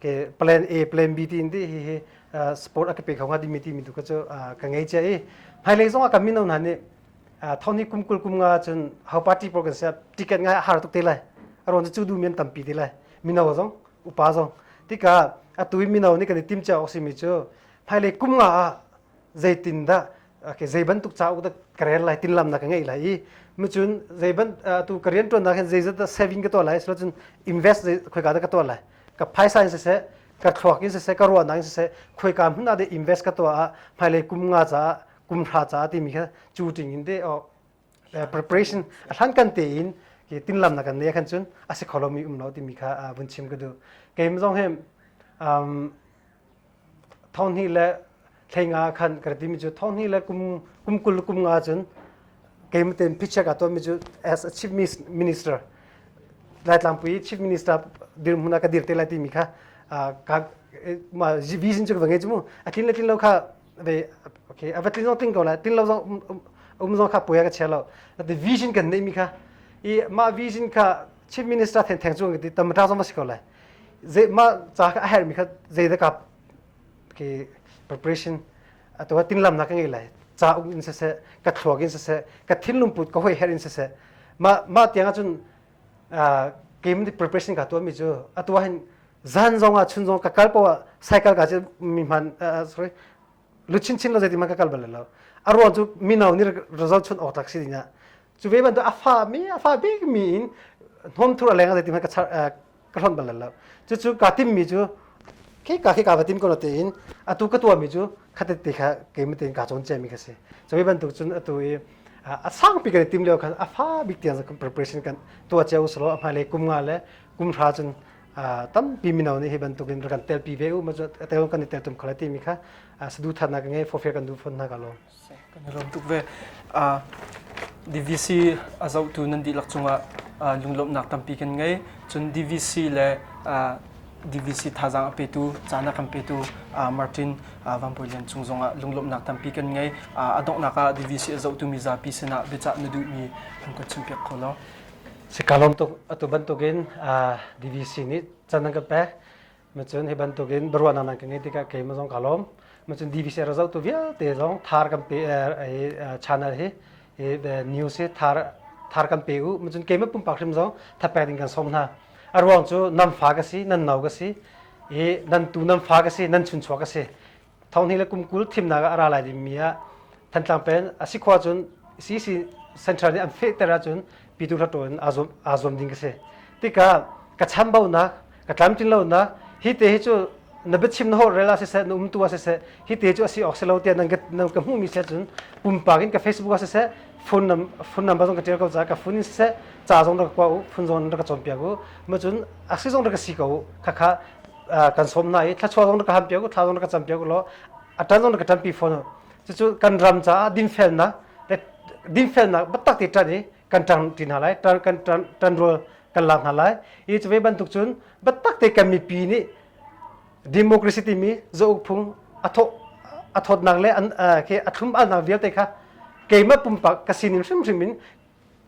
ke plan A plan B ti di hi hi sport a ka pe kho nga di mi ti mi tu ka chu ka ngei che i hai lei zong a kan min hna ni thoni kum kul kum nga chun hau party por kan sia ticket ngai har tuk te lai aron chu du men tampi te lai mino zong upa zong tika atui mino ni kan tim cha oksi mi chu phai le kum nga zeitindah okay, zei bantuk cauk dah ka rel lai tinlam na ka ngei lai i micun zei ban tu ka rian tuan nak hin zei zat saving ka to lai so cun invest zei khoi ka da ka to lai ka phaisa in se ka thluak in se ka ruwa na in se khoi ka mun ade invest ka to a hmailei kum nga cha kum thra cha ti mi kha chu ting in de le preparation a hlan kan te in ki tin lam na kan ne kan chun asi kholomi um lo timi kha vun chim ka du keim zong hem um thon hi le thleinga khan ka ti mi chu thon hi le kum kum kul kum nga chun keim ten phichak ato mi chu as a chief minister lai tlangpui chief minister dir muna ka dir te lai ti mi kha ka ma vision chu vange chu mu atin latin lo kha ve okay ava tlin zo ting ko la tin lo zo um zo kha pui ka che lo the vision kan nei mi kha i ma vision kha chief minister then theng chung ti tam ra zo ma si ko la ze ma cha ka her mi kha ze da ka ke preparation ato tin lam na ka ngai la cha ung in se se ka thluag in se se ka thin lum put ka hoi her in se se ma ma tianga chun game preparation ka tuahmi cu atu ahhin zan zong ah chun zong ka kal poah cycle ka cu mi hman sorry luchin chin lo zeitin man ka kal bal lo a ruang cu mino nih result chun awk tak si dingah cu ve bantuk a fa mi a fa bik mi in hnawm thur a leng zeitin man ka char ka hrang bal lo cucu ka tim mi cu khi ka khi ka va tim ko te in atu ka tua mi cu khatet te kha keim te in ka cawn cia mi ka si so hi bantuk cun atu i a sang pi kan i tim leo khan a fa bik tiang preparation kan tua cia uslo a hmailei kum nga le kum hra cun tampi mino nih hi bantuk in rak kan tel pi ve u ma cu tel kan i tel tum kho le ti mi kha sadu than na ka ngei fofia kan du phon na ka lawm kan i lawm tuk ve. Uh, DVC a zohtu nan dihlak cungah uh, lunglawmhnak tampi kan ngei. Cun DVC le uh, DVC thazaang a petu, caan a kan petu uh, Martin uh, Van Bawi Lian Cung zongah lunglawmhnak tampi kan ngei. Uh, a donghnak ah DVC a zohtu mizapi sinah biacah na duhmi an kan chimpiak kho lo. Si ka lawm tuk atu bantukin uh, DVC nih can an kan pek Macun hi bantukin baruahnak nan ka ngeih tikah keimah zong ka lawm. Macun DVC rak zohtu vialte zong thar kan pe channel hi news hi thar thar kan pe u. Macun keimah pumpak hrim zong thapek ding kan sawm hna. A ruang cu nan fa ka si, nan no ka si, i nan tu nan fa ka si, nan chunchuak ka si. Thonghni le kum kul thimnak ah a ra lai dingmi ah Thantlang peng a si khua cun CC Central nih an fehter ahcun Pyithu Hlaṭaw in aa zuam, aa zuam ding ka si. Tikah ka chambaunak, ka tlamtlinlonak, hi te hi cu na biachim na holhrel ah siseh, na umtu ah siseh, hi te cu a si awk si lo tiah nan ka, nan ka hmuhmi si ahcun pumpak in ka Facebook ah siseh, phone, num, phone number zong ka ṭial ko ca, ka phone in siseh, ca zong rak ka kua u, phone zong rak ka cawnpiak u, macun a si zong rak ka si ko u, khakha kan som na i thlachuah zong na ka ham piak u thla zong na ka cam piak u law a tan zong na ka tanpi fawn cucu kan ram caah dinfelnak dinfelnak batak ti tan i kan tan ti hna lai tan kan tan rol kan lak hna lai i cuve bantuk cun batak te kan mipi nih democracy timi zouk phung atho athawtnak le ke athlum alnak vialte kha keimah pumpak ka sinin hrimhrim in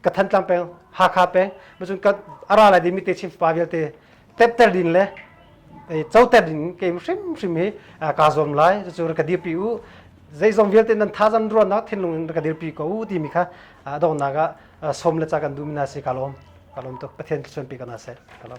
ka thantlang peng hakha peng macun ka ara lai dimi te chim pa vialte tepter din le choter din kem hrim hrim hi ka zuam lai cucu ka dir pi u zeizong vialte nan tha zan ruan na thinlung in ka dir pi ko u timi kha dong naga som le cha kan dum na si ka lom ka lom to pathian chuan pi kana se ka lom